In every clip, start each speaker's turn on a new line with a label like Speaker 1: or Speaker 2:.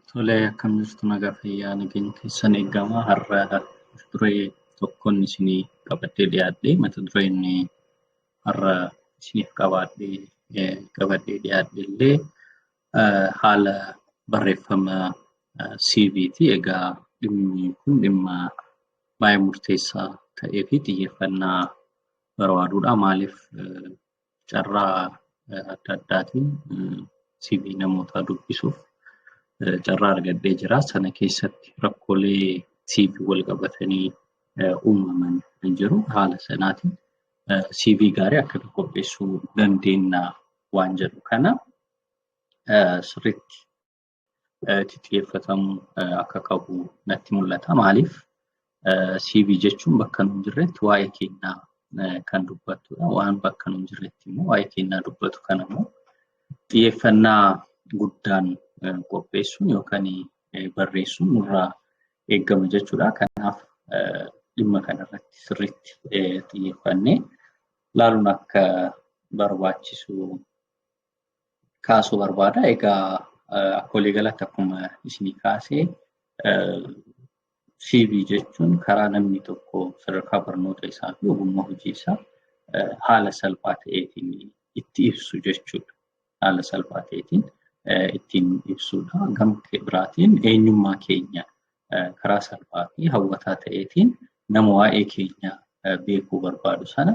Speaker 1: Tole akkam jirtu nagaa fayyaa nageenya keessan eegama har'a mata duree tokkoon isinii qabadhee dhiyaadhe mata dureen har'a isiniif qabaadhee eh, qabadhee dhiyaadhe illee eh, haala barreeffama eh, CV ti egaa dhimmi kun dhimma baay'ee murteessaa ta'ee fi xiyyeeffannaa barbaaduudha maaliif eh, carraa adda addaatiin CV namootaa dubbisuuf carraa argadhee jira. Sana keessatti rakkoolee CV wal qabatanii uumaman hin jiru. Haala sanaatiin CV gaarii akkamitti qopheessuu dandeenya waan jedhu kana sirriitti itti xiyyeeffatamu akka qabu natti mul'ata. Maaliif CV jechuun bakka nuun jirretti waa'ee keenyaa kan dubbattudha. Waan bakka nuun jirretti immoo waa'ee keenyaa dubbatu kana immoo xiyyeeffannaa guddaan qopheessuun yookaan barreessuun nurraa eegama jechuudha. Kanaaf dhimma kanarratti sirriitti xiyyeeffannee ilaaluun akka barbaachisu kaasuu barbaada. Egaa akka waliigalatti akkuma isinii kaasee CV jechuun karaa namni tokko sadarkaa barnoota isaa fi ogummaa hojii isaa haala salphaa ta'eetiin itti ibsu jechuudha. Haala salphaa ta'eetiin ittiin ibsudha. Gama biraatiin eenyummaa keenya karaa salphaa fi hawwataa ta'eetiin nama waa'ee keenya beekuu barbaadu sana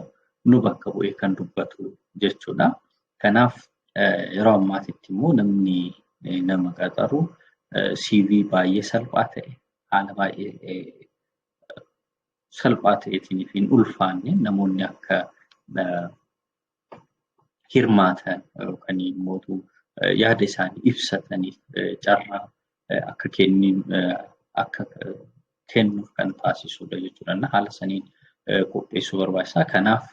Speaker 1: nu bakka bu'ee kan dubbatu jechuudha. Kanaaf yeroo ammaatitti immoo namni nama qaxaru CV baay'ee salphaa ta'e haala baay'ee salphaa ta'eetiin fi hin ulfaanne namoonni akka hirmaatan yookaan immoo yaada isaanii ibsataniif carraa akka kennin akka kennuuf kan taasisudha jechuudha. Haala saniin qopheessuu barbaachisaa. Kanaaf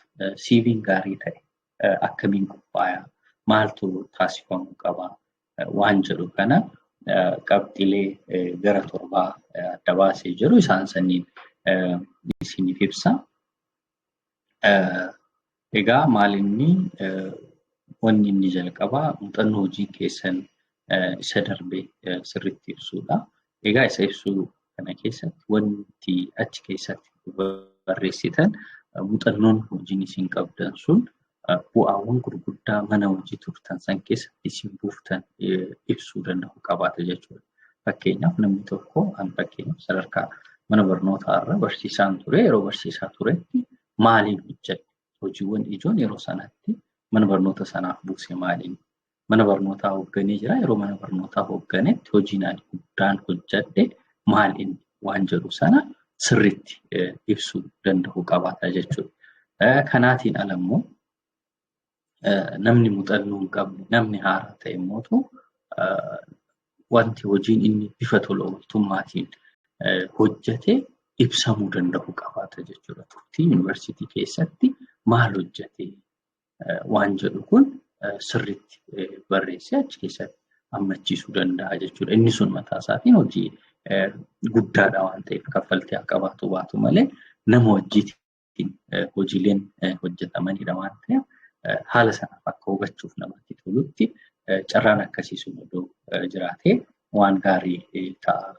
Speaker 1: siiviin gaarii ta'e akkamiin qophaaya? Maaltu taasifamuu qaba? Waan jedhu kana qabxilee gara torbaa adda baasee jiru isaan saniin isiniif ibsa. Egaa maal inni wanni inni jalqabaa muuxannoo hojii keessan isa darbe sirriitti ibsuudha. Egaa isa ibsuu kana keessatti wanti achi keessatti barreessitan muuxannoon hojiin isin qabdan sun bu'aawwan gurguddaa mana hojii turtan san keessa isin buuftan ibsuu danda'u qabaata jechuudha. Fakkeenyaaf namni tokko an fakkeenyaaf sadarkaa mana barnootaa irra barsiisaan ture yeroo barsiisaa turetti maaliin hojjedhe hojiiwwan ijoon yeroo sanatti mana barnoota sanaaf buuse maaliin mana barnootaa hoogganee jira. Yeroo mana barnootaa hoogganetti hojiin ani guddaan hojjedhe maal inni waan jedhu sana sirriitti ibsuu danda'u qabaata jechuudha. Kanaatiin ala immoo namni muuxannoo hin qabne namni haaraa ta'e immoo wanti hojiin inni bifa tola ooltummaatiin hojjete ibsamuu danda'u qabaata jechuudha. Turtii yuunivarsiitii keessatti maal hojjete waan jedhu kun sirriitti barreessee achi keessatti hammachiisuu danda'a jechuudha. Inni sun mataa isaatiin hojii guddaadha waan ta'eef kaffaltii haa qabaatu baatu malee nama wajjiitiin hojiileen hojjetamanidha waan ta'eef haala sanaaf akka hubachuuf namatti tolutti carraan akkasii sun odoo jiraatee waan gaarii ta'a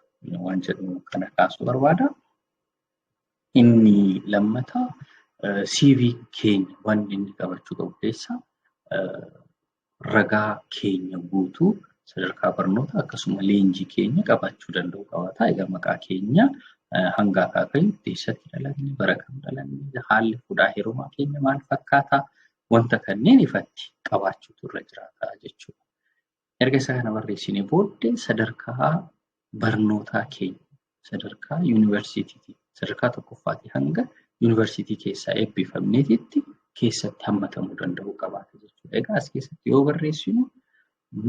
Speaker 1: waan jedhu kana kaasuu barbaada. Inni lammataa CV keenya wanti inni qabachuu qabu keessaa ragaa keenya guutuu sadarkaa barnootaa akkasuma leenjii keenya qabaachuu danda'uu qabaata. Egaa maqaa keenya hanga akaakayyuutti eessatti dhalanne, bara kam dhalanne, haalli fuudhaa heerumaa keenya maal fakkaata wanta kanneen ifatti qabaachuutu irra jiraata jechuudha. Erga isa kana barreessinee booddee sadarkaa barnootaa keenya sadarkaa yuunivarsiitiitii sadarkaa tokkoffaatii hanga yuunivarsiitii keessaa eebbifamneetitti keessatti hammatamuu danda'uu qabaata jechuudha. Egaa as keessatti yoo barreessinu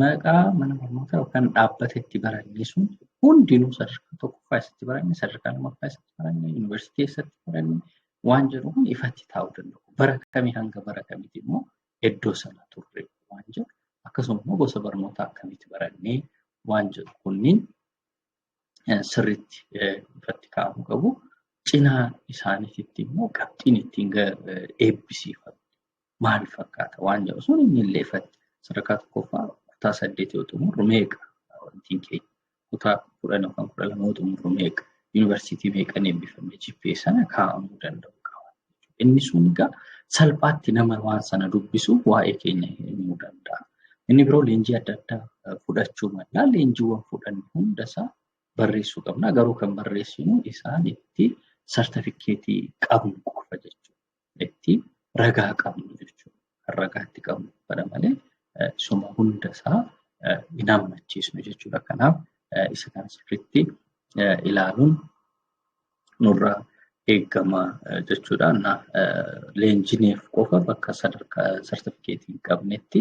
Speaker 1: maqaa mana barnootaa yookaan dhaabbata itti barannee sun hundinuu sadarkaa tokkoffaa eessatti baranne sadarkaa lammaffaa eessatti baranne yuunivarsiitii eessatti baranne waan jedhu kun ifatti taa'uu danda'u. Bara kamii hanga bara kamiiti immoo iddoo sana turre waan jedhu akkasuma immoo gosa barnootaa akkamitti barannee waan jedhu kunniin sirriitti irratti kaa'amuu qabu. Cinaa isaaniitti immoo qabxiin ittiin eebbisiifame maal fakkaata waan jedhu sun inni illee sadarkaa tokkoffaa kutaa saddeet yoo xumurru meeqa wantiin keenya kutaa kudhan yookaan kudha lama xumuru meeqa yuunivarsiitii meeqan eebbifame jippee sana kaa'amuu danda'u qaba. Inni sun egaa salphaatti nama waan sana dubbisu waa'ee keenya himuu danda'a. Inni biroo leenjii adda addaa fudhachuu mala. Leenjiiwwan fudhanne hundasaa barreessuu qabna. Garuu kan barreessinu isaan itti sartifikeetii qabnu qofa jechuudha. itti ragaa qabnu jechuudha. Kan ragaa itti qabnu kana malee suma hunda isaa hin hammachiisnu jechuudha. Kanaaf isa kana sirriitti ilaaluun nurraa eegama jechuudha. Leenjineef qofa bakka sadarkaa sartifikeetii hin qabnetti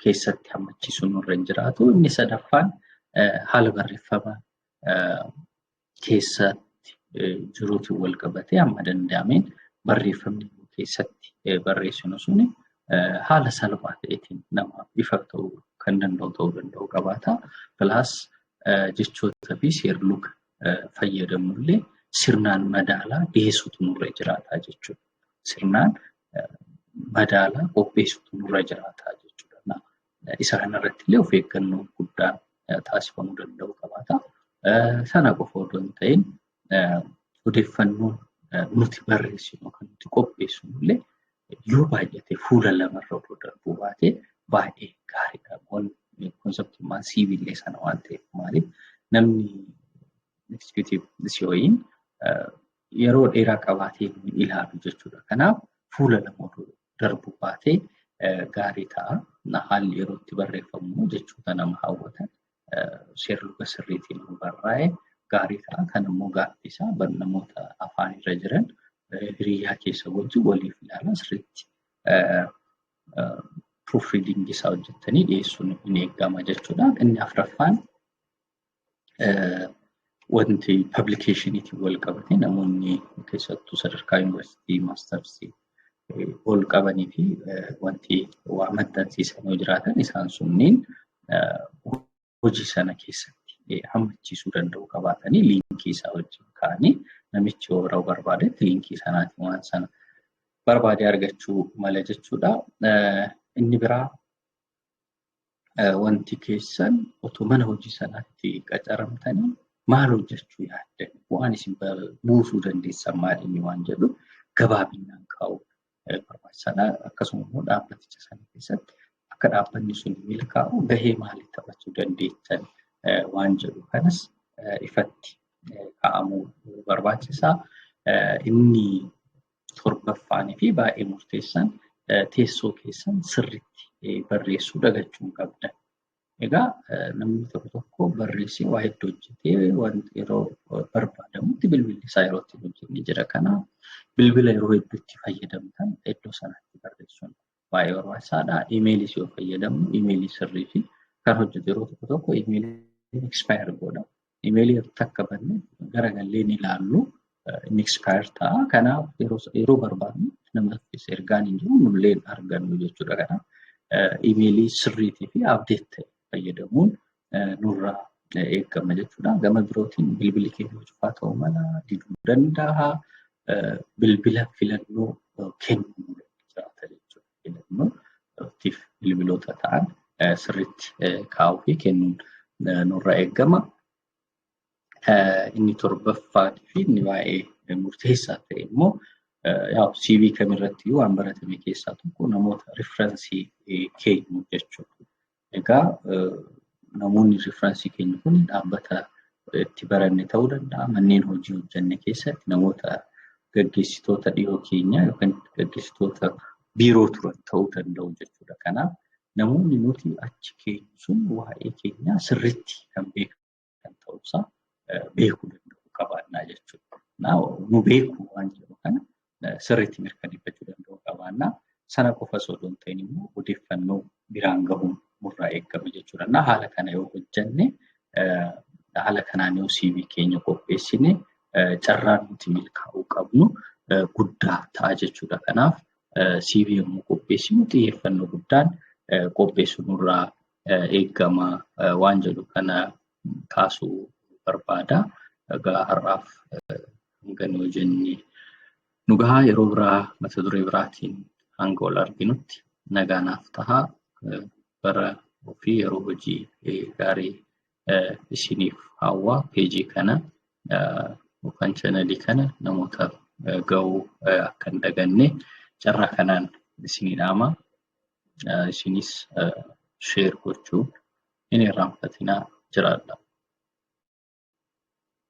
Speaker 1: keessatti hammachiisuun nurra hin jiraatu. Inni sadaffaan haala barreeffama keessaatti jiruutiin wal qabatee amma danda'ameen barreeffamni keessatti barreessinu sun haala salphaa ta'eetiin namaaf ifa ta'uu kan danda'u ta'uu danda'u qabaata. Pilaas jechootaa fi seerluga fayyadamnullee sirnaan madaalaa dhiyeessuutu nurra jiraata jechuudha. Sirnaan madaalaa qopheessuutu nurra jiraata jechuudha. Isa kanarratti illee of eeggannoo guddaan taasifamuu danda'u qabaata. Sana qofa otoo hin ta'in odeeffannoon nuti barreessinu yookaan nuti qopheessinu illee yoo baay'ate fuula lamarra otoo darbuu baate baay'ee gaariidha. Konseptummaan siivillee sana waan ta'eef maaliif namni eksekuutiiv si'ooyiin yeroo dheeraa qabaatee ilaalu jechuudha. Kanaaf fuula lama otoo darbu baate gaarii ta'a. Haalli yeroo itti barreeffamu jechoota nama hawwatan seerluga sirriitiin yoo barraa'e gaarii ta'a. Kan immoo gaaffii isaa namoota afaan irra jiran hiriyaa keessa wajjin waliif ilaalaa sirriitti proofreading isaa hojjettanii dhiyeessuun hin eegama jechuudha. Inni afraffaan wanti pablikeeshiniitiin wal qabate namoonni keessattuu sadarkaa yuunivarsiitii maastarsii ol qabanii fi wanti waa maxxansiisan yoo jiraatan isaan sunniin hojii sana keessatti hammachiisuu danda'u qabaatanii liinkii isaa wajjin kaa'anii namichi yoo bira barbaadetti liinkii sanaatiin waan sana barbaadee argachuu mala jechuudha. Inni biraa wanti keessan otoo mana hojii sanaatti qacaramtanii maal hojjechuu yaaddan bu'aan isin buusuu dandeessan maal inni waan jedhu gabaabinaan kaa'u barbaachisaadha. Akkasuma immoo dhaabbaticha sana keessatti akka dhaabbanni sun milkaa'u gahee maalii taphachuu dandeettan waan jedhu kanas ifatti kaa'amuu barbaachisaa. Inni torbaffaanii fi baay'ee murteessan teessoo keessan sirriitti barreessuu dagachuu hin qabdan. Egaa namni tokko tokko barreessee waa hedduu hojjetee wanti yeroo barbaadamutti bilbilli isaa yeroo ittiin hojjenne jira. Kanaaf bilbila yeroo hedduutti fayyadamtan iddoo sanatti barreessuun baay'ee barbaachisaadha. Imeeliis yoo fayyadamnu imeelii sirrii fi kan hojjetu yeroo tokko tokko imeeliin expire godha. Imeelii yeroo takka banne garagallee ni ilaallu inni expire ta'a. Kanaaf yeroo barbaadnu namatti ergaan hin jiru nullee hin argannu jechuudha. Kanaaf imeelii sirriitii fi update ta'e fayyadamuun nurra eegama jechuudha. Gama birootiin bilbilli keenya cufaa ta'uu mala diduu danda'a. Bilbila filannoo kennuu jiraata jechuudha. Filannoo tiif bilbiloota ta'an sirriitti kaa'uu fi kennuun nurra eegama. Inni torbaffaan fi inni baay'ee murteessaa ta'e immoo yaa'u CV kamirratti waan baratame keessaa tokko namoota riifiransii keenyu jechuudha. Egaa namoonni riiferansii keenya kun dhaabbata itti baranne ta'uu danda'a. Manneen hojii hojjenne keessatti namoota gaggeessitoota dhiyoo keenyaa yookaan gaggeessitoota biiroo turan ta'uu danda'u jechuudha. Kanaaf namoonni nuti achi keenyu sun waa'ee keenyaa sirriitti kan beekan kan ta'uusaa beekuu danda'uu qabaannaa jechuudha. Nu beekuu waan jedhu kana sirriitti mirkaneeffachuu danda'uu qabaannaa. Sana qofa osoo hin ta'in immoo odeeffannoo biraan gahuun nurraa eegama jechuudha. Na haala kana yoo hojjenne haala kanaan yoo CV keenya qopheessine carraan nuti milkaa'uu qabnu guddaa ta'a jechuudha. Kanaaf CV yommuu qopheessinu xiyyeeffannoo guddaan qopheessuu nurraa eegama waan jedhu kana kaasuu barbaada. Egaa har'aaf hanga nu jenne nu gahaa yeroo biraa mata duree biraatiin hanga wal arginutti nagaa naaf tahaa bara ofii yeroo hojii gaarii isiniif hawwaa peejii kana yookaan chanalii kana namoota ga'uu akka hin daganne carraa kanaan isinii dhaama isinis sheer gochuu hin irraanfatinaa jiraadha.